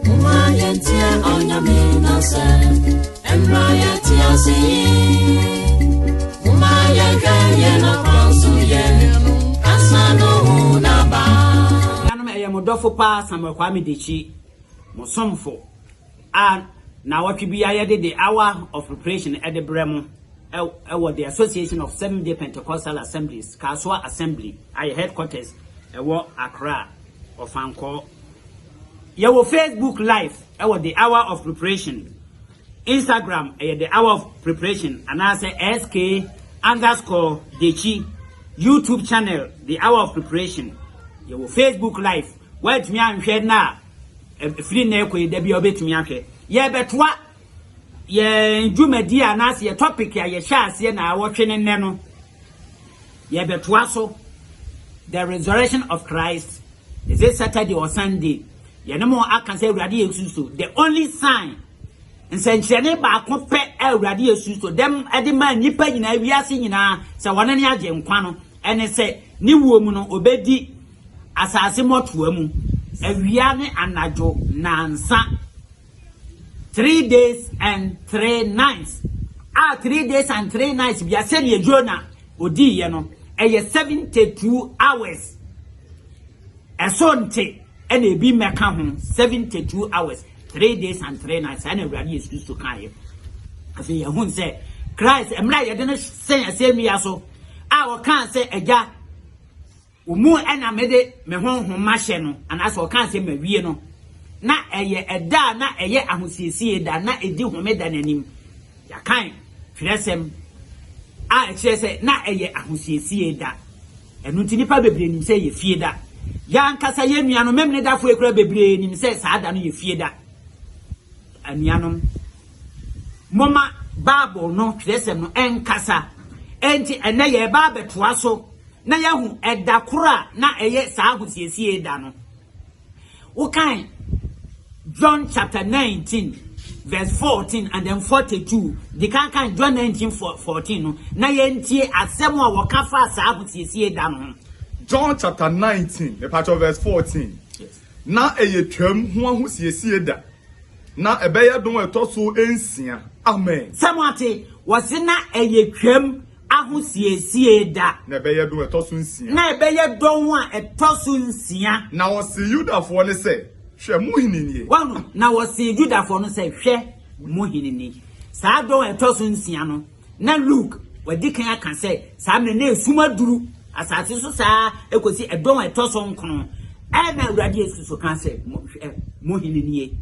Moma yɛntie ɔnyame nasɛ ɛmmra yɛte ase yi Moma yɛhwɛ yɛn akwa so yɛ ansa no hu naba Nuanom ɛyɛ mo dɔfo paa Samuel Kwame Dekyi mo somfo a na wɔtwe bi ayɛde de hour of preparation ɛde brɛ mo ɛwɔ the Association of Seventh Day Pentecostal Assemblies Kasoa Assembly ayɛ headquarters ɛwɔ Accra Ɔfa nkɔ. Yɛwɔ Facebook live ɛwɔ the hour of preparation. Instagram ɛyɛ the hour of preparation anaasɛ SK underscore Dekyi. YouTube channel the hour of preparation. Yɛwɔ Facebook live. Wɔatumi anhwɛ na ɛfiri na ɛkɔ yi da bi a wɔbɛtumi ahwɛ. Yɛbɛtoa yɛn dwumadi anaasɛ yɛ topic a yɛhyɛ aseɛ na awɔtwe ne nnɛ no. Yɛbɛtoa so The Resurrection of Christ, is it Saturday or Sunday? Yɛne mo aka sɛ Awurade Yesu Kristo, the only sign, nsɛnkyerɛnne baako pɛ a Awurade Yesu Kristo dɛm de maa nnipa nyinaa, wiase nyinaa, sɛ wɔne ne agye nkwa no, ɛne sɛ ne wuo mu no, obɛdi asase mmɔtoa mu, awia ne anadwo, nansa. Three days and three nights a three days and three nights bia sɛdeɛ Jona ɔdiiɛ no ɛyɛ 72 hours ɛso nte ɛna ebi mmɛka ho 72 hours three days and three nights ɛna awurade yesu kristo kaeɛ afei yɛhu sɛ christ mmerɛ a yɛde no sɛn asɛnnua so a ɔkaa sɛ agya Wo mu na mede me honhom mahyɛ no, anaasɛ ɔkaa sɛ mawie no. Ná ɛyɛ ɛda a na ɛyɛ ahosiesie da, na edi Homeda no anim. Yɛakan twerɛsɛm a ɛkyerɛ sɛ na ɛyɛ ahosiesie da. Ɛno nti nnipa bebree nim sɛ ɛyɛ Fieda. Yɛn ankasa yɛn nuanom Memenedafo yi koraa bebree nim sɛ saa da no yɛ Fieda. Anuanom. Momma Bible no twerɛsɛm no nkasa. Enti ɛnnɛ yɛreba abɛtoa so na yɛahu ɛda koro a na ɛyɛ saa ahosiesie da no. Wokan John chapter 19 verse 14 and then 42 de kankan John 19 14 no na yɛntie asɛm a wɔka faa saa ahosiesie da no ho. John chapter 19, the part of verse 14. Ná ɛyɛ Twam ho ahosiesie da. Ná ɛbɛyɛ dɔn a ɛtɔ so nsia. Amen. Sɛ moate, wɔse na ɛyɛ Twam ahosiesie da. Na ɛbɛyɛ dɔn a ɛtɔ so nsia. Na ɛbɛyɛ dɔn a ɛtɔ so nsia. Na wɔsee Yudafoɔ no sɛ, Hwɛ, mo hene nie. Wahu? Na wɔsee Yudafoɔ no sɛ, Hwɛ, mo hene ni. Saa dɔn a ɛtɔ so nsia no. Ná Luke adi kan aka sɛ saa mmere no na sum aduru asase so saa ara kosi ɛdɔn a ɛtɔ so nkron. Ɛnna Awurade Yesu nso kaa sɛ, Hwɛ, mo hene nie.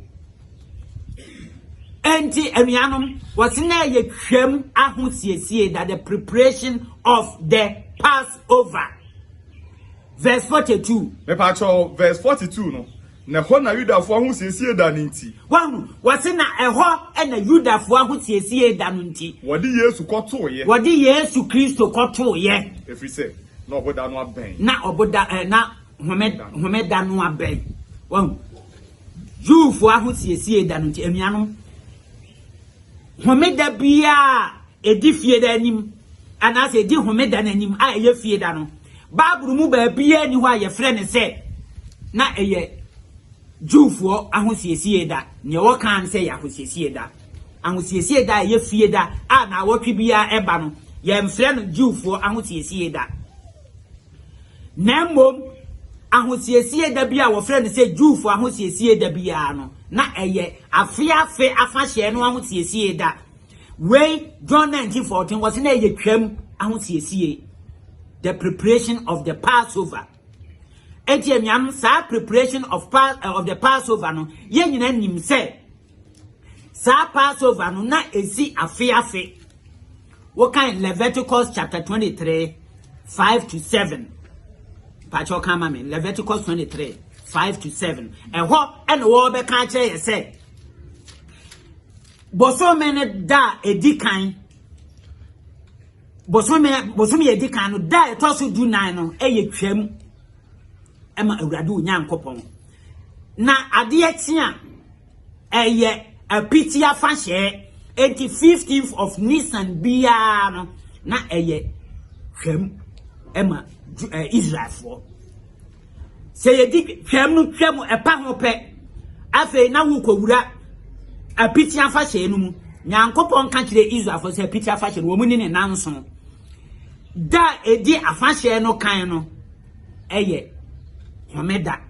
Enti, anuanom, wɔse na ɛyɛ Twam ahosiesie da, the preparation of the Passover. Verse 42. Mepakyɛw, verse 42 no, Na ɛhɔ na Yudafoɔ ahosiesie da no nti. Wahu? Wɔse na ɛhɔ na Yudafoɔ ahosiesie da no nti. Wɔde Yesu kɔtooeɛ. Wɔde Yesu Kristo kɔtooeɛ. Ɛfiri sɛ, na ɔboda no abɛn. Na ɔboda, eh, na home, homeda no abɛn. Wahu? Jewfoɔ ahosiesie da no nti, anuanom. Homeda biara a edi Fieda anim anaasɛ edi Homeda no anim a ɛyɛ Fieda no, Bible mu baabiara nni hɔ a wɔfrɛ no sɛ na ɛyɛ Jewfoɔ ahosiesie da. Nea wɔka ara ne sɛ ɛyɛ ahosiesie da. Ahosiesie da a ɛyɛ Fieda a nnawɔtwe biara ɛba no, yɛmfrɛ no Jewfoɔ ahosiesie da. na mmom Ahosiesie Da bi a wɔfrɛ no sɛ Jewfo Ahosiesie Da biara no, na ɛyɛ afe afe afahyɛ no ahosiesie da. Wei, John 19:14, wɔse na ɛyɛ Twam ahosiesie, the preparation of the Passover. Enti anuanom, saa preparation of, pa, eh, of the Passover no, yɛn nyinaa nim sɛ Saa Passover no, na esi afe afe. Wokan Leviticus chapter 23, 5 to 7. Pacho ka ma me, Leviticus 23, 5 to 7. Ɛhɔ ɛna wɔbɛka akyerɛ yɛ sɛ, bosome no da a ɛdi kan bosome bosome a ɛdi kan no da a ɛtɔ so du nan no ɛyɛ twam ɛma awurade onyankopɔn na adeɛ kye a ɛyɛ apiti afahyɛ eti fifteenth of nisan biara no na ɛyɛ twam ɛma ɛɛ israelfoɔ sɛ yɛdi twam no twam ɛpa ho pɛ afei na wokɔwura apiti afahyɛ no mu nyankopɔn ka kyerɛ israelfoɔ sɛ apiti afahyɛ no wɔn ni ne nanso. Da a ɛdi afahyɛ no kan no yɛ homeda.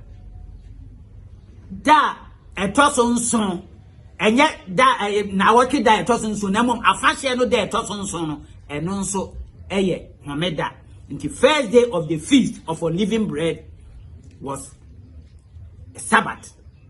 Da a ɛtɔ so nson, ɛnyɛ da nnawɔtwe da a ɛtɔ so nson, na mmom afahyɛ no da a ɛtɔ so nson no, ɛno nso yɛ homeda. Nti first day of the feast of unleavened bread was Sabbath.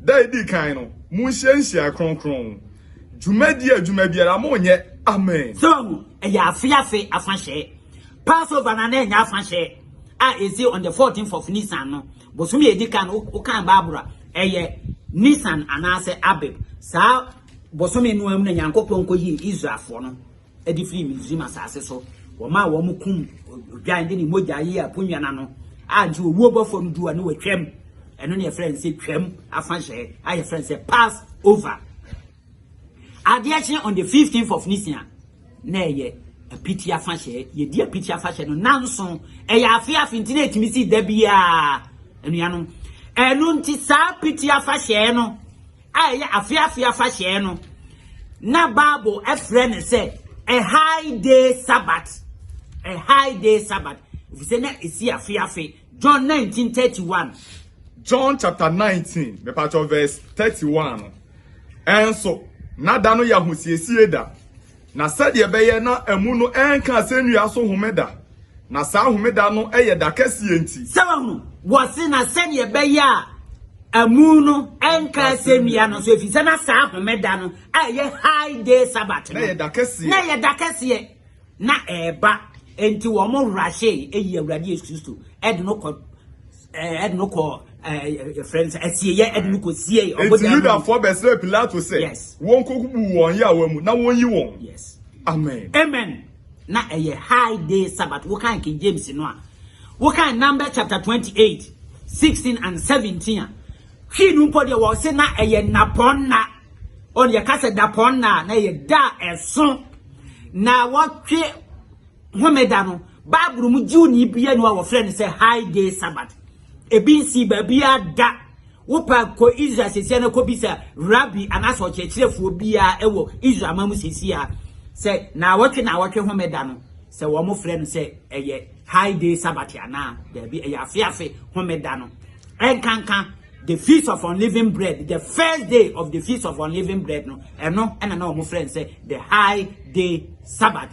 Da a edi kan no, munhyia nhyiae kronkron. Dwumadi adwuma biara, monnyɛ. Amen. So ɛyɛ afe afe afahyɛ? Passover no a, na ɛnyɛ afahyɛ a esi on the 14th of Nisan no, bosome a edi kan no. Wokan Bible a, ɛyɛ Nisan anaasɛ Abib. Saa bosome no ara mu na Nyankopɔn koyii Israelfoɔ no. de firii Misraim asase so. Wɔmaa wɔn kum odwan de ne mogya yee aponnwa no ano a nti owuo bɔ fam du a ne wɔtwam. Ɛno ne yɛfrɛ no sɛ twam afahyɛ a yɛfrɛ no sɛ pass over. Adeɛ kye on the 15th of Nisan na ɛyɛ apiti afahyɛ. Yɛdi apiti afahyɛ no nanso ɛyɛ afe afe nti na ɛtumi si da biara anuanom. Ɛno nti saa apiti afahyɛ no a ɛyɛ afe afe afahyɛ no, na Bible frɛ no sɛ a high day Sabbath. A high day Sabbath. Efisɛ na esi afe afe. John 19:31. John chapter 19, mepatɔ verse 31 no. Ɛnso, na da no yɛ ahosiesie da, Na sɛdeɛ ɛbɛyɛ na amu no renka asɛnnua so homeda, na saa homeda no yɛ da kɛseɛ nti. Sɛ wahu, wɔse, na sɛdeɛ ɛbɛyɛ a amu no renka asɛnnua no so, ɛfiri sɛ na saa homeda no a ɛyɛ high day sabbath no, na ɛyɛ da kɛseɛ, na ɛyɛ da kɛseɛ, na ɛreba, enti wɔn rahyee, ɛyi Awurade Yesu Kristo, ɛde no kɔ ɛde no kɔ yɛfrɛ no sɛ asieyɛ ɛde no kɔ sie ɔbɔdɛ mu yudafoɔ bɛsrɛ pilato sɛ wɔnkɔkubu wɔn yaawa mu na wɔnyi wɔn amen amen na ɛyɛ high day sabbath wokan king james no a wokan number chapter 28 16 and 17 a hwii no mpo deɛ wɔ se na ɛyɛ nnapɔn na ɔne yɛka sɛ dapɔn na na ɛyɛ da ɛso na wɔtwe Homeda no, Bible mu Jewni bea nni hɔ a wɔfrɛ no sɛ High Day Sabbath. Ebi nsii baabiara da. Wopɛ a, kɔ Israel seesei na kɔbisa rabbi anaasɛ ɔkyerɛkyerɛfoɔ biara wɔ Israel man mu seesei a sɛ naawɔtwe naawɔtwe Homeda no, sɛ wɔfrɛ no sɛ ɛyɛ High Day Sabbath anaa. Daabi, ɛyɛ afeafe Homeda no. Ɛnkanka the Feast of Unleavened Bread, the first day of the Feast of Unleavened Bread no, ɛno ɛna na wɔfrɛ no sɛ the High Day Sabbath.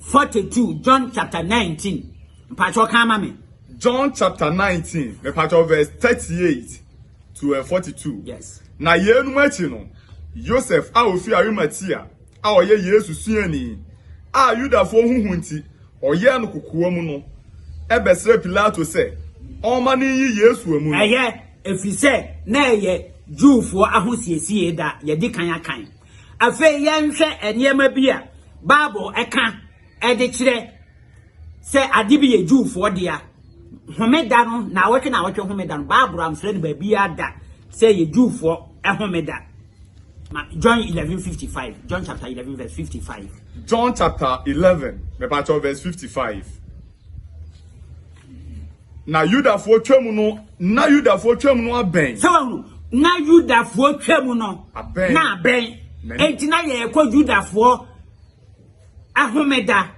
Forty two, John chapter nineteen. Mpatsɔ kan ma me. John chapter nineteen, mepatsɔ verse thirty eight to uh, forty two. Yes. Na yeinom akyi no, Yosef a ofi Arimatea a ɔyɛ Yesu suani a Yudafoɔ ho hu nti ɔyɛɛ no kokoa mu no ɛbɛsrɛ Pilato sɛ ɔmma no nyi Yesu amu no. Ɛyɛ ɛfiri sɛ na ɛyɛ Jewfoɔ ahosiesie da yɛdi kan akan. Afei yɛnhwɛ nneɛma bi a Bible ka de kyerɛ sɛ ade bi yɛ Jewfoɔ dea. Homeda no, naawɔtwe naawɔtwe homeda no, Bible amfrɛ no baabiara da sɛ ɛyɛ Jewfoɔ homeda. Ma John 11:55, John chapter 11 verse 55. John chapter 11, mepakyɛw verse 55. Na Yudafoɔ twam no, na Yudafoɔ twam no abɛn. Sɛ wɔn na Yudafoɔ twam no abɛn. na abɛn. Enti na yɛrekɔ Yudafoɔ ahomeda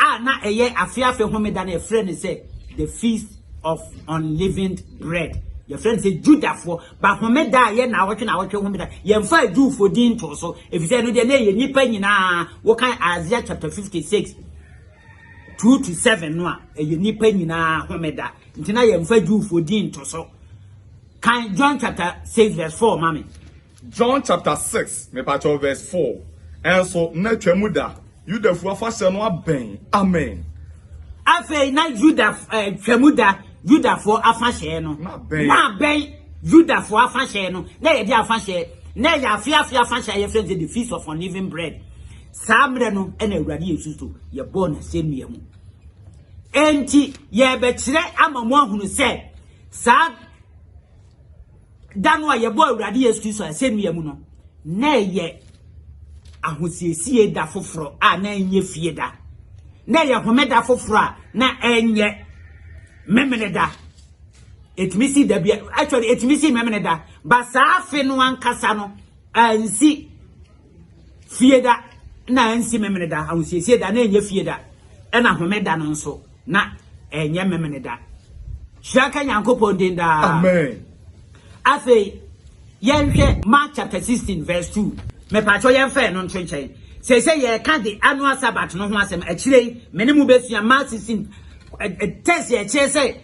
a na ɛyɛ afe afe homeda na yɛfrɛ no sɛ the feast of unleavened bread. Yɛfrɛ no sɛ Yudafoɔ ba homeda a yɛ na awɔtwe na awɔtwe homeda. Yɛmfa Jewfoɔ din ntoo so efisɛ ɛno deɛ na ɛyɛ nnipa nyinaa. Wokan Isaiah chapter 56. Two to seven no a ɛyɛ nnipa nyinaa homeda nti na yɛmfa Jewfoɔ din nto so. Kan John chapter six verse four ma me. John chapter six mepakyɛw verse four ɛnso na Twam da, Yudafoɔ afahyɛ no abɛn. Amen. Afei na Yuda eh, Twam da, Yudafoɔ afahyɛ no na abɛn. Yudafoɔ afahyɛ no na yɛde afahyɛ na yɛafe afe afahyɛ a yɛfrɛ no the feast of unleavened bread. Saa mmerɛ no na Awurade Yesu so yɛbɔɔ no asɛnnua mu. Enti yɛrebɛkyerɛ ama mo ahunu sɛ saa da no a yɛbɔɔ Awurade Yesu Kristo asɛnnua mu no, na ɛyɛ ahosiesie da foforɔ a na ɛnyɛ fie da. Na ɛyɛ homeda foforɔ a na ɛnyɛ memene da. Ɛtumi si da bi actually ɛtumi si memene da. Ba saa afe no ankasa no ansi Fie da na ɛnsi Memene da, ahosiesie da na ɛnyɛ fie da, ɛna home da no nso na ɛnyɛ Memene da. Hyira ka Nyankopɔn din daa. Amen. Afei, yɛnhwɛ Mark chapter 16 verse 2. Mepatwɔ yɛmfa yɛn no nto nkyɛn. Sɛ sɛ yɛka de annual Sabbath no ho asɛm akyire yi, me ne mu bɛsua Mark 16 test yɛ kyerɛ sɛ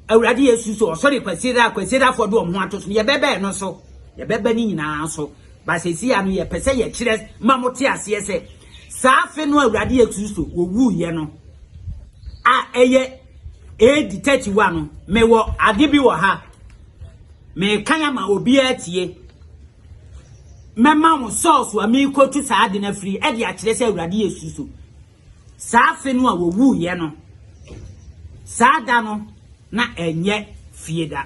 Awurade Yesu so ɔsɔre kwasiera kwasierafoɔ de wɔn ho ato so yɛbɛbɛn no so yɛbɛbɛn ne nyinaa so But seesei ano yɛpɛ sɛ yɛkyerɛ ma mo te aseɛ sɛ saa afe no a Awurade Yesu Kristo ɔwuiɛ no a ɛyɛ AD 31 no, mewɔ ade bi wɔ ha merekan ama obiara atie. Mɛma wo sɔɔso a merekɔtu saa ade no afiri ɛde akyerɛ sɛ Awurade Yesu Kristo Saa afe no a wɔwuiɛ no, saa da no na ɛnyɛ fie da.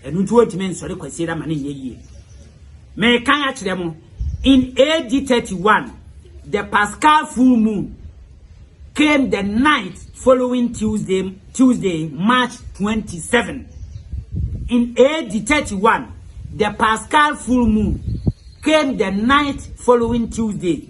Ɛno nti wɔntumi nsɔre Kwasiada ma no nyɛ yie. Merekan akyerɛ mo, in AD 31, the Paschal full moon came the night following Tuesday, Tuesday, March 27. In AD 31, the Paschal full moon came the night following Tuesday,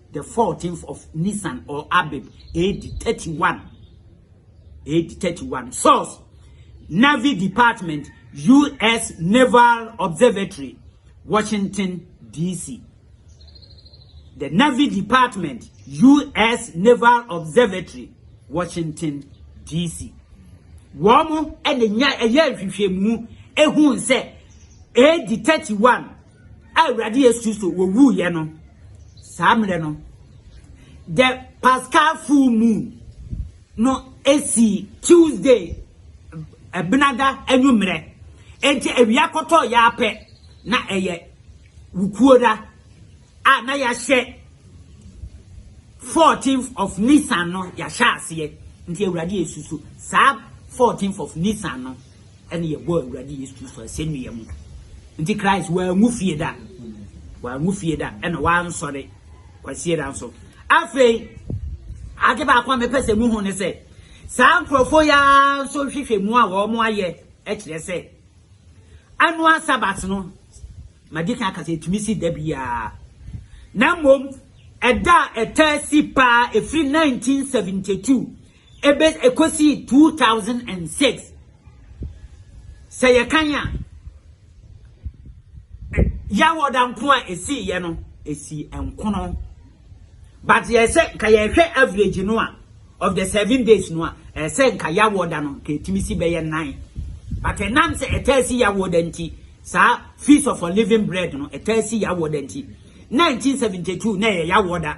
the fourteenth of Nisan or Abib, AD 31. AD 31. Source Navy Department, U.S. Naval Observatory, Washington, D.C. The Navy Department, U.S. Naval Observatory, Washington, D.C. Wɔn ɛna nya ɛyɛ nhwehwɛmu ehun sɛ AD 31 a Awurade Yesu Kristo wɔwuiɛ no saa mmerɛ no the Pascal full moon no esi Tuesday ɛbenada anwummerɛ enti awia kɔtɔ yaapɛ na ɛyɛ wukuo da a na yɛahyɛ 14th of Nisan no yɛahyɛ aseɛ nti Awurade Yesu so saa 14th of Nisan no ɛne yɛbɔɔ Awurade Yesu Kristo asɛnnua mu. Nti Christ wanwu fie da. Wanwu fie da ɛna wansɔre kwasie da nso. Afei, ade baako a mepɛ sɛ muhu ne sɛ, saa nkurɔfoɔ yi ara nso hwehwɛ mu a wɔn ayɛ kyerɛ sɛ, annual Sabbath no, madi kan aka sɛ ɛtumi si da biara. Na mmom, ɛda a ɛtaa si paa ɛfiri 1972 Ebe ɛkɔsii two thousand and six sɛ yɛkan a, Yawoda nko a ɛsiiɛ no, ɛsii nkono. But yɛ sɛ nka yɛhwɛ average no a, of the seven days no a, ɛyɛ sɛ nka Yawoda no nka ɛtumi si bɛyɛ nnan. But ɛnam sɛ ɛtaa si Yawoda nti, saa Feast of Unleavened Bread no ɛtaa si Yawoda nti, nineteen seventy two na ɛyɛ Yawoda.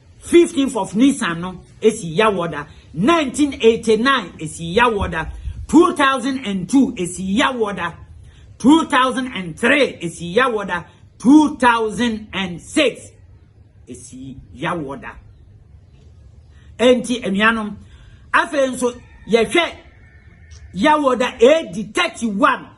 Fifteenth of Nisan no esi Yawɔda, Nineteen eighty nine esi Yawɔda, Two thousand and two esi Yawɔda, Two thousand and three esi Yawɔda, Two thousand and six esi Yawɔda. Enti anuanom, afei nso yɛhwɛ Yawɔda AD thirty one.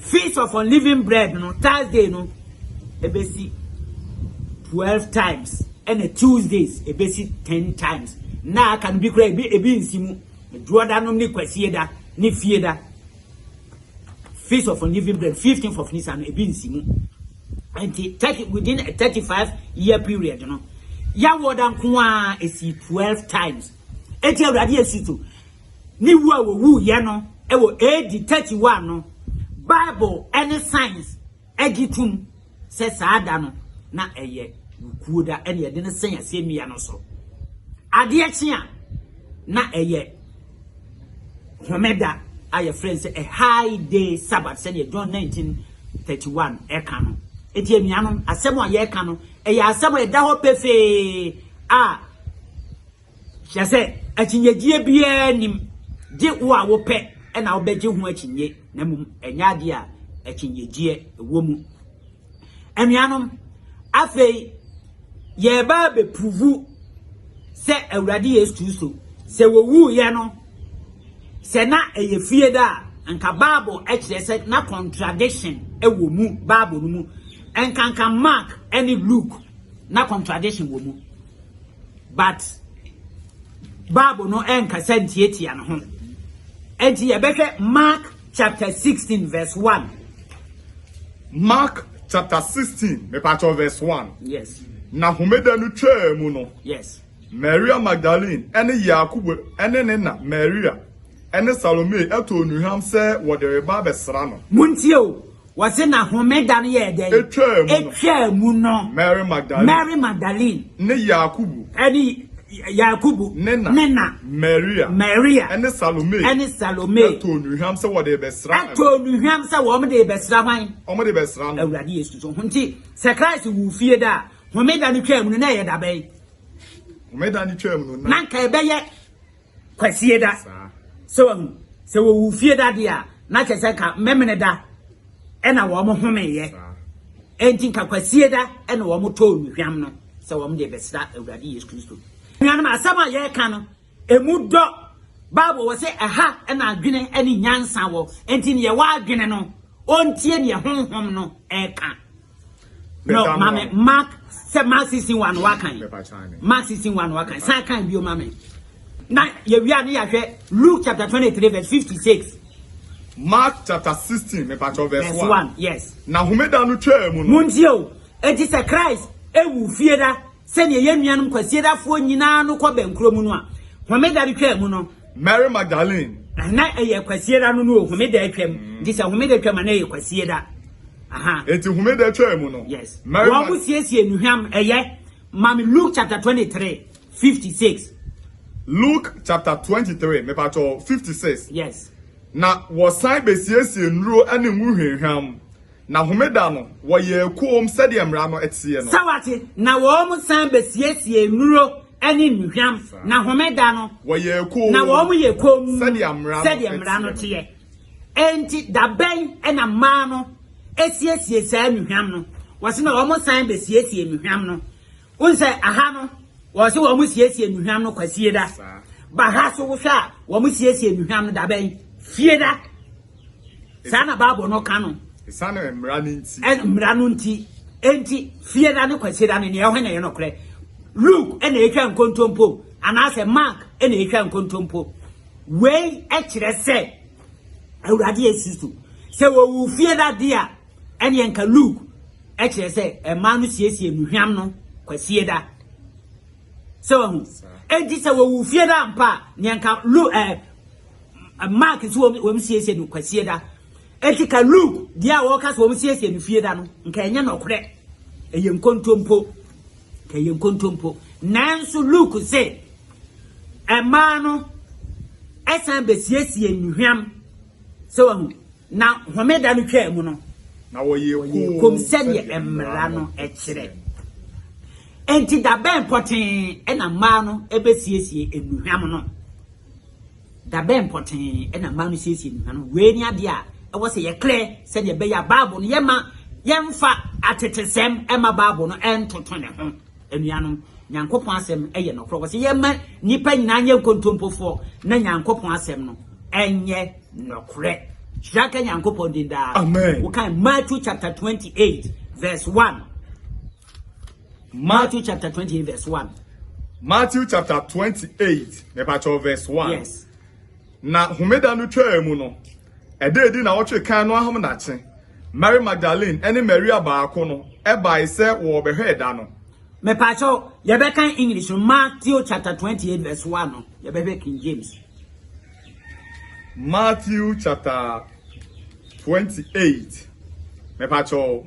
Feast of Unleavened Bread no, Thursday no ɛbɛsi twelve times, ɛna Tuesdays ɛbɛsi ten times. Nna aka no bi koraa ebi ebi nsi mu. Duoda nom ne kwasie da ne fie da. Feast of Unleavened Bread, fifteenth of Nisan no ebi nsi mu. Nti thirty within a thirty five year period no, yɛawoda nko ara esi twelve times. Eti Awurade esutu. Ne wu a ɔwuiɛ no wɔ AD 31 no, Bible ne science gye tom sɛ saa da no na ɛyɛ wukuo da na yɛde no sɛn asɛnnua no so. Adeɛ kye a, na ɛyɛ homeda a yɛfrɛ no sɛ a high day Sabbath sɛdeɛ John 19:31 ka no. Enti anuanom, asɛm a yɛreka no, ɛyɛ asɛm a ɛda hɔ pefee a Kyerɛ sɛ, akyinnyegyeɛ biara nnim, gye wo a wopɛ na wobɛgye ho akyinnyɛ, na mmom ɛnyɛ adeɛ a akyinnyegyeɛ wɔ mu. Anuanom, afei yɛreba abɛpuruvu sɛ Awurade Yesu Kristo, sɛ wɔwuiɛ no, sɛ na ɛyɛ fie da a, nka Bible kyerɛ sɛ na contradiction wɔ mu Bible no mu. Nkanka Mark ne Luke na contradiction wɔ mu. But Bible no ɛnkasa ntiatia no ho. Enti yɛbɛhwɛ Mark chapter 16 verse 1. Mark chapter 16, mepakyɛw verse 1. Yes. Na homeda no twaa mu no. Yes. Maria Magdalene ne Yakobo ne ne na Maria ne Salome too nnuhwam sɛ wɔde reba abɛsra no. Muntie o, Wɔse na homeda no yɛɛ dɛn? Etwaa mu no. Etwaa mu no. Mary Magdalene. Mary Magdalene. Ne Yakubu. Ɛne Yakubu. Ne na. Ne na. Maria. Maria. Ɛne Salome. Ɛne Salome. Ɛtɔɔ nnuhwam sɛ wɔde rebɛsra no. Ɛtɔɔ nnuhwam sɛ wɔn de rebɛsra hwan? Wɔn de rebɛsra no. Awurade Yesu so. Nti sɛ Christ wu fie da a, homeda no twaa mu no na ɛyɛ da bɛn? Homeda no twaa mu no na. Na nka ɛbɛyɛ Kwasie da. So wahu? Sɛ wɔwu fie da deɛ a, na kyerɛ sɛ nka mmɛmene da ɛna wɔn homeeɛ. Enti nka kwasie da ɛna wɔn tɔɔ nnuhwam no sɛ wɔn deɛ bɛsra Awurade Yesu Kristo. Nuanom, asɛm a yɛreka no, ɛmu dɔ. Bible wɔ sɛ ɛha ɛna adwene ɛne nyansa wɔ. Enti neɛ w'adwene no, ɔntie deɛ honhom no ɛreka. No, mami, Mark, sɛ Mark 16 wa no wakan. Mark 16 wa no wakan. San kan bio mami. Na yɛwia ne yɛahwɛ Luke chapter 23 verse 56. Mark chapter 16 mepatɔ verse 1. Yes. Na homeda no twaa mu no. Muntie o. Enti sɛ Christ ewu fie da Sɛdeɛ yɛn nuanom Kwasiedafoɔ nyinaa no kɔ bɛn kuro mu no a, Homeda no twaa mu no. Mary Magdalene. Na ɛyɛ Kwasieda no no o, Homeda atwam. Nti sɛ Homeda twam a na ɛyɛ Kwasieda. Aha. Nti Homeda twaa mu no. Yes. Mary Wɔn mo siesie nnuhwam ɛyɛ. Maame Luke chapter 23, 56. Luke chapter 23, mepatɔ 56. Yes. Na wɔsan bɛsiesie nnuro ne ngo hwinhwam. Na homeda no, wɔyɛɛ komm sɛdeɛ mmara no teɛ no. Sɛ wate? Na wɔsan bɛsiesiee nnuro ne nnuhwam, na homeda no, Wɔyɛɛ komm. na wɔyɛ komm Sɛdeɛ mmara no sɛdeɛ mmara no teɛ no. teɛ. Enti da bɛn na mmaa no siesiee saa nnuhwam no? Wɔse na wɔsan bɛsiesiee nnuhwam no. Wohu sɛ aha no, wɔn se wɔn siesie nnuhwam no kwasie da. Ba ha so wohwɛ a, wɔn siesie nnuhwam no dabɛn? Fie da. Saa na Bible no ka no. Esiane mmara no nti. Ɛn mmara no nti. Enti fie da ne kwasie da no nea ɛho na ɛyɛ nokorɛ. Luke ɛna ɛtwa nkontompo anaasɛ Mark ɛna ɛtwa nkontompo. Wei ɛkyerɛ sɛ Awurade Yesu so sɛ wɔwu fie da deɛ a ɛnneɛ nka Luke kyerɛ sɛ mmaa no siesie nnuhwam no kwasie da. Sɛ wahu. Enti sɛ wɔwu fie da mpa a, neɛ nka Luke ɛɛ Mark nso wɔn wɔn siesie no kwasie da. Enti ka Luke deɛ a wɔka sɛ wɔn siesie no fie da no, nka ɛnyɛ nɔkorɛ. Ɛyɛ nkontompo. Nka ɛyɛ nkontompo. Nanso Luke se mmaa no ɛsan bɛsiesie nnuhwam. Sɛ wahu. Na homeda no twaa mu no, na wɔyɛɛ komm sɛdeɛ mmara no kyerɛ. Enti da bɛn pɔtee na mmaa no bɛsiesie nnuhwam no? Da bɛn pɔtee na mmaa no siesie nnuhwam no? Wei ne adeɛ a ɛwɔ sɛ yɛklɛ sɛdeɛ ɛbɛyɛ a Bible no yɛmma yɛmfa atetesɛm mma Bible no ntoto ne ho. Anuanom, Nyankopɔn asɛm yɛ nɔkorɛ. Wɔsɛ yɛma nnipa nyinaa nyɛ nkontompofoɔ na Nyankopɔn asɛm no ɛnyɛ nɔkorɛ. Hyira ka Nyankopɔn din daa. Amen. Wokan Matthew chapter 28 verse 1. Matthew chapter 28 verse 1. Matthew chapter 28 mepakyɛw verse 1. Yes. Na homeda no twaa mu no, Ɛda adi nnawɔtwe kan no ahomadakye, Mary Magdalene ne Maria baako no bae sɛ wɔrebɛhwɛ da no. Mepakyɛw, yɛbɛkan English no, Matthew chapter 28 verse 1 no, yɛbɛhwɛ King James. Matthew chapter 28, mepakyɛw.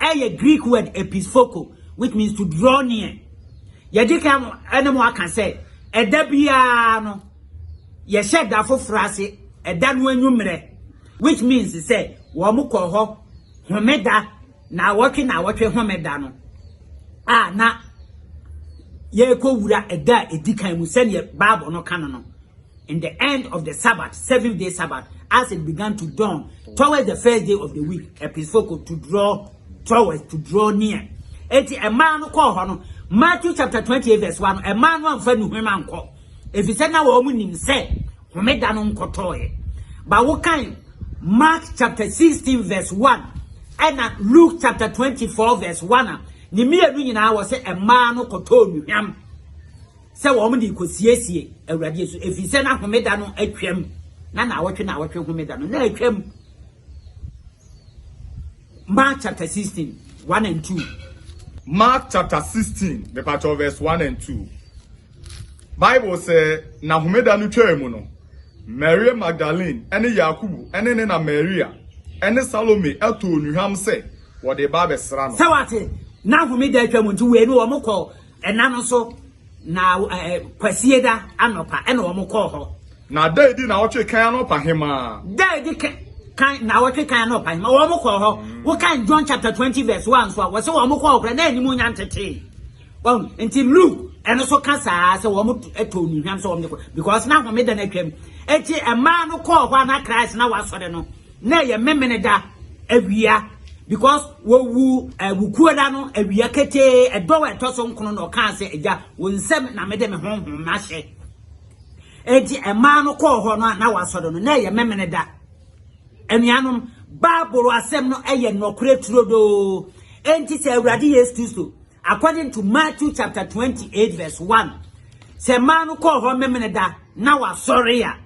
Ɛyɛ Greek word epis phoko, which means to draw near. Yɛde kan mo ɛne mo aka sɛ ɛda biara no yɛhyɛ da foforɔ ase ɛda no anwummerɛ which means sɛ wɔn kɔ hɔ homeda na awɔtwe na awɔtwe homeda no a na yɛrekɔ wura ɛda a ɛdi kan mu sɛdeɛ baabɔ no ka no no In the end of the Sabbath, seventh day Sabbath, as it began to dawn towards the first day of the week, episcopal to draw towards to draw near. Eti ɛmaa no kɔɔ hɔ no, Matthew chapter twenty eight verse one, ɛmaa no anfa nuhwem ankɔ, efisɛ na wɔn nim sɛ homeda no nkɔtɔɔɛ. Ba wokan Mark chapter sixteen verse one, ɛna Luke chapter twenty four verse one a, ne mmienu nyinaa wɔ sɛ ɛmaa no kɔtɔɔ nuhwam. sɛ wɔn de rekɔsiesie Awurade asu, ɛfiri sɛ na homeda no atwam, na naawɔtwe naawɔtwe homeda no na atwam. Mark chapter 16, 1 and 2. Mark chapter 16, mepakyɛw verse 1 and 2. Bible sɛ, na homeda no twaa mu no, Maria Magdalene ne Yakubu ne ne na Maria ne Salome too nnuhwam sɛ wɔde ba abɛsra no. Sɛ wate, na homeda atwa mu nti wei no wɔn kɔ Ɛna no so na ɛɛ Kwasieda anɔpa ɛna wɔn kɔɔ hɔ. Na da edi naawɔtwe kan anɔpa hemaa. Da edi kan kan naawɔtwe kan anɔpa hemaa wɔn kɔɔ hɔ. Mm. Wokan John chapter twenty verse one nso a wɔsɛ wɔn kɔɔ hɔ na anim nya ntetee. Wɔn nti Luke ɛno so ka saa sɛ wɔn ɛtɔ nnuhwam sɛ wɔn de kɔ because na homeda no atwam. Eti ɛmaa no kɔɔ hɔ a na Christ na wasɔre no. Na ɛyɛ Memeneda awia because wɔwu eh, Wukuoda no awia ketee ɛdɔw a ɛtɔ so nkono na ɔkaa sɛ agya wo nsɛm na mede me honhom mahyɛ. Enti ɛmaa no kɔɔ hɔ no a na wasɔre no na ɛyɛ Memeneda. Anuanom, Bible asɛm no ɛyɛ nɔkorɛ turodoo. Enti sɛ Awurade Yesu Kristo according to Matthew chapter 28 verse 1 sɛ mmaa no kɔɔ hɔ Memeneda na wasɔre a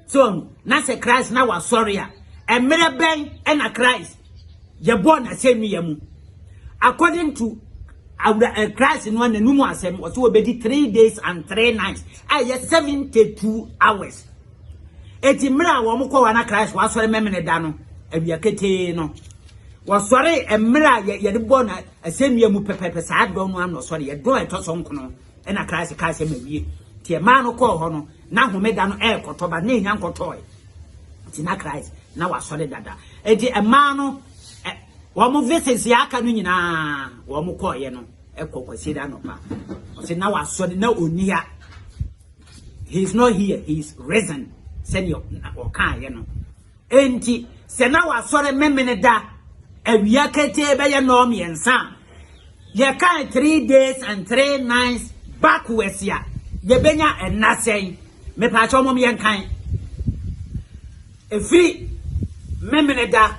So ɔhu, na sɛ Christ na wasɔre a, mmerɛ bɛn ɛna Christ yɛbɔɔ n'asɛnnua mu? According to awura eh, Christ no n'anum asɛm, ɔsɛ wɔbɛdi three days and three nights, a ɛyɛ seventy two hours. Eti mmerɛ a wɔn kɔ hɔ na Christ wasɔre mɛmene da no, awia ketee no. Wɔsɔre mmerɛ a yɛde bɔɔ n'asɛnnua mu pɛpɛpɛ saa dɔn no ano ɔsɔre, yɛ dɔn ɛtɔ so nkono. Ɛnna Christ kae sɛ, Mawie. Nti ɛmaa no kɔɔ hɔ no, na homeda no ɛrekɔtɔ, but na ɛnya nkɔtɔɔe. Nti na Christ, na wasɔre dada. Nti ɛmaa no, ɛ, wɔn visits a aka no nyinaa, wɔn kɔɔeɛ no, ɛkɔ kwasie da anɔpa. Ɔsɛ na wasɔre, na ɔnni ha. He is not here, he is risen, sɛdeɛ ɔkaeɛ no. Enti, sɛ na wasɔre Memeneda awia ketee bɛyɛ nnɔɔmmiɛnsa a, yɛkae three days and three nights backwards a, yɛbɛnya nna sɛn? Mepaakyɛw mom yɛnkan. Ɛfiri Memeneda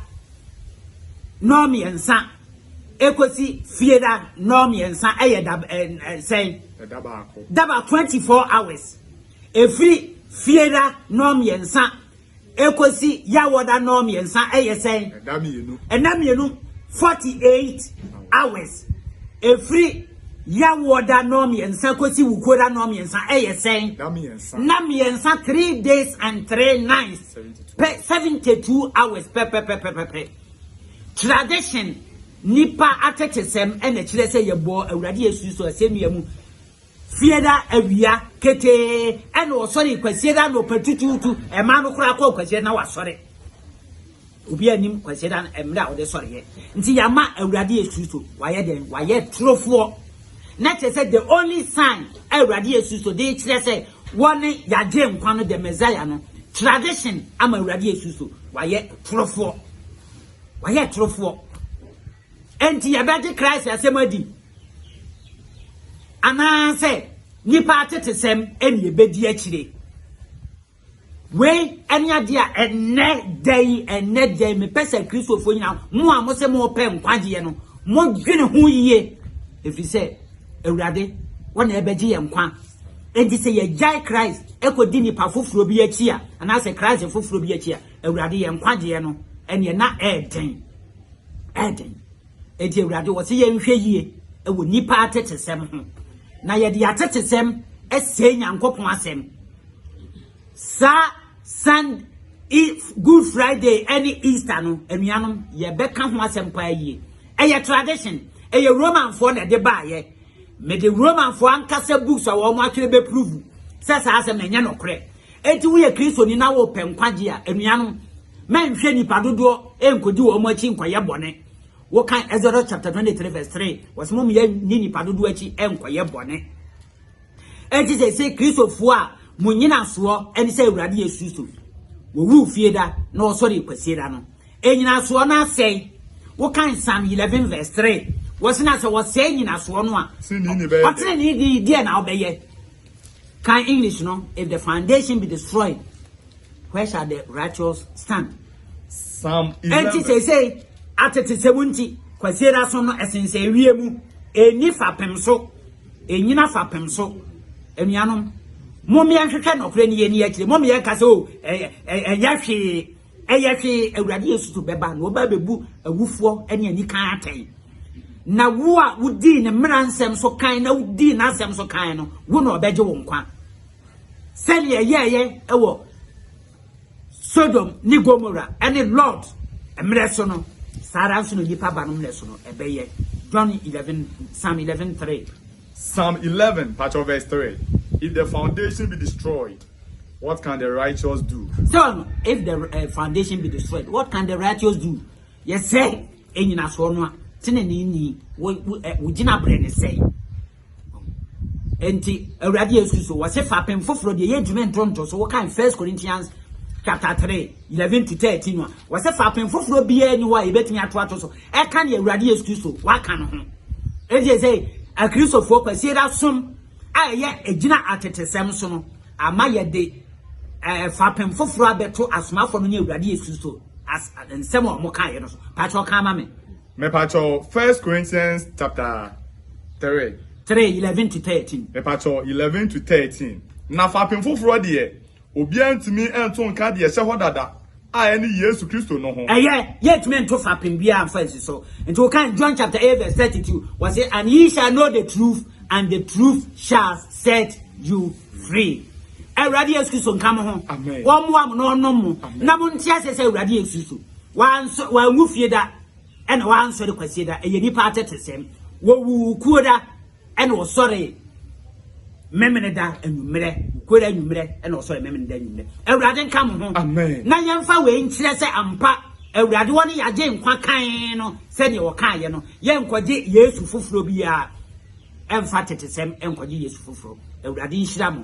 nnɔɔmmiɛnsa ɛkɔsi Fieda nnɔɔmmiɛnsa ɛyɛ da sɛn? Da baako. Da baako, 24 hours. Ɛfiri Fieda nnɔɔmmiɛnsa Ekosi Yawoda nnɔɔ mmiɛnsa ɛyɛ sɛn? Ɛda mmienu. Ɛda mmienu, 48 hours. Efiri Yawoda nnɔɔ mmiɛnsa kosi Wukuoda nnɔɔ mmiɛnsa ɛyɛ sɛn? Ɛda mmiɛnsa. Nna mmiɛnsa, three days and three nights. 72. Pɛ, 72 hours pɛpɛpɛpɛpɛ. Tradition, nipa atetesɛm ɛna ɛkyerɛ sɛ yɛbɔɔ Awurade Yesu Kristo asɛnnua mu. Kwasiada awia ketee ɛna ɔsɔre Kwasiada anɔpa tutuutu ɛmaa no koraa kɔɔ Kwasiada na wasɔre obi anim Kwasiada mmerɛ a ɔde sɔreɛ nti yɛama Awurade Yesu Kristo wayɛ dɛn wayɛ torofoɔ na kyerɛ sɛ the only sign a Awurade Yesu Kristo de kyerɛ sɛ wɔne yɛagye nkwa no the Messiah no tradition ama Awurade Yesu Kristo wayɛ torofoɔ wayɛ torofoɔ Enti yɛbɛgye Christ asɛm adi? Anaasɛ nnipa atetesɛm ne yɛbɛdi akyire? Wei ne adeɛ a ɛnnɛ da yi, ɛnnɛ da yi, mepɛ sɛ Kristofoɔ nyina, mo a mo sɛ mo pɛ nkwagyeɛ no, mo dwene ho yie. Ɛfiri sɛ, Awurade, wɔ na ɛbɛgye yɛn nkwa. Enti sɛ yɛgyae Christ ɛkɔdi nipa foforɔ bi akyi a, anaasɛ Christ foforɔ bi akyi a, Awurade, yɛn nkwagyeɛ no, ɛneɛ na ɛɛden, ɛɛden. Enti Awurade, ɔse yɛnhwɛ yie wɔ nnipa atetesɛm ho, na yɛde atetesɛm ɛsɛe Nyankopɔn asɛm. Saa Sun, Good Friday ɛne Easter no, anuanom, yɛbɛka ho asɛm paa yie. Ɛyɛ tradition, ɛyɛ Romanfoɔ na ɛde baayɛ. Mede Romanfoɔ ankasa books a wɔn atwerɛ bɛ prove sɛ saa asɛm no ɛnyɛ nokorɛ. Enti woyɛ Kristoni na wopɛ nkwagye a, anuanom, mɛnhwɛ nnipa dodoɔ ɛnkɔdi wɔn akyi nkɔyɛ bɔne. Wokan Exodus chapter 23 verse 3, wɔsɛ mom yɛ ne nnipa dodoɔ akyi ɛnkɔyɛ bɔne. Enti sɛ sɛ Kristofoɔ a mo nyinasoɔ ɛne sɛ Awurade Yesu Kristo wɔwu fie da na wɔsɔre kwasie da no. Nnyinasoɔ no asɛe. Wokan Psalm eleven verse three, wɔsi na sɛ wɔsɛe nnyinasoɔ no a, Tenenee ni bɛyɛ dɛ. ɔtenenee ni deɛ na ɔbɛyɛ. Kan English no, If the foundation be destroyed, where shall the righteous stand? Psalm Enti eleven. seesei, atetesɛm nti, Kwasiada aso no ɛsensɛn awie mu. Enni fapem so. Ennyina fapem so. Anuanom, mommyɛnhwehwɛ nɔkorɛ no yɛnni akyire. Mommyɛnka sɛ, o, ɛ, ɛ, ɛ, ɛnyɛ hwee. Ɛyɛ hwee, Awurade Yesu to bɛba na ɔba bɛbu awufoɔ ne anikan atɛn. Na wo a wodii ne mmara nsɛm so kan na wodii n'asɛm so kan no, wo na ɔbɛgye wo nkwa. Sɛdeɛ ɛyɛɛyɛ wɔ Sodom ne Gomora ne Lord mmerɛ so no, saa ara nso na nipa ba no mmerɛ so no ɛbɛyɛ. John 11, Psalm 11, 3. Psalm eleven mpakyɛw verse three If the foundation be destroyed what can the righteous do? Sɛn if the eh, foundation be destroyed what can the righteous do? Yɛ sɛ enyinasoɔ no a tenenee ni wo wo eh, wo gyina brɛ ne sɛn. Enti Awurade Yesu so wɔse fapem foforɔ deɛ yɛ adwuma ntonto so wokan First Corinthians chapter three eleven to thirteen no a wɔse fapem foforɔ biara ni hɔ a yɛbɛtumi ato ato so Ɛka deɛ Awurade Yesu Kristo waka no ho. Enti ɛsɛ Akristofoɔ Kwasiada som a ɛyɛ ɛgyina atetesɛm so no ama yɛde ɛɛ fapem foforɔ abɛto asomafoɔ no ne Awurade Yesu Kristo as nsɛm a wɔkaeɛ no so. Pakyɛw ka ama me. Mepakyɛw First Corinthians chapter three. Three eleven to thirteen. Mepakyɛw eleven to thirteen. Na fapem foforɔ deɛ. Obiara ntumi nto nka deɛ ɛhyɛ hɔ dada a ɛne Yesu Kristo no ho. Ɛyɛ, yɛntumi nto fapem biara mfa nsi so. Nti wokan John chapter eight verse thirty two, wɔse, And ye shall know the truth, and the truth shall set you free. Awurade Yesu Kristo nka mo ho, Amen. wɔmmoa mo na ɔnom mo, Amen. na monte aseɛ sɛ Awurade Yesu Kristo wanso- wanwu fie da ɛna wansɔre kwasie da. Ɛyɛ nipa atetesɛm. Wɔwuu kuo da. Ɛna ɔsɔree Memeneda anwummerɛ, nokorɛ anwummerɛ, ɛna ɔsɔree Memeneda anwummerɛ. Awurade nka mo ho. Amen. Na yɛmfa wei nkyerɛ sɛ ampa Awurade wɔ ne yɛagye nkwa kann no sɛdeɛ wɔkaeɛ no. Yɛnkɔgye Yesu foforɔ biara, ɛmfa tetesɛm nkɔgye Yesu foforɔ. Awurade nhyira mo.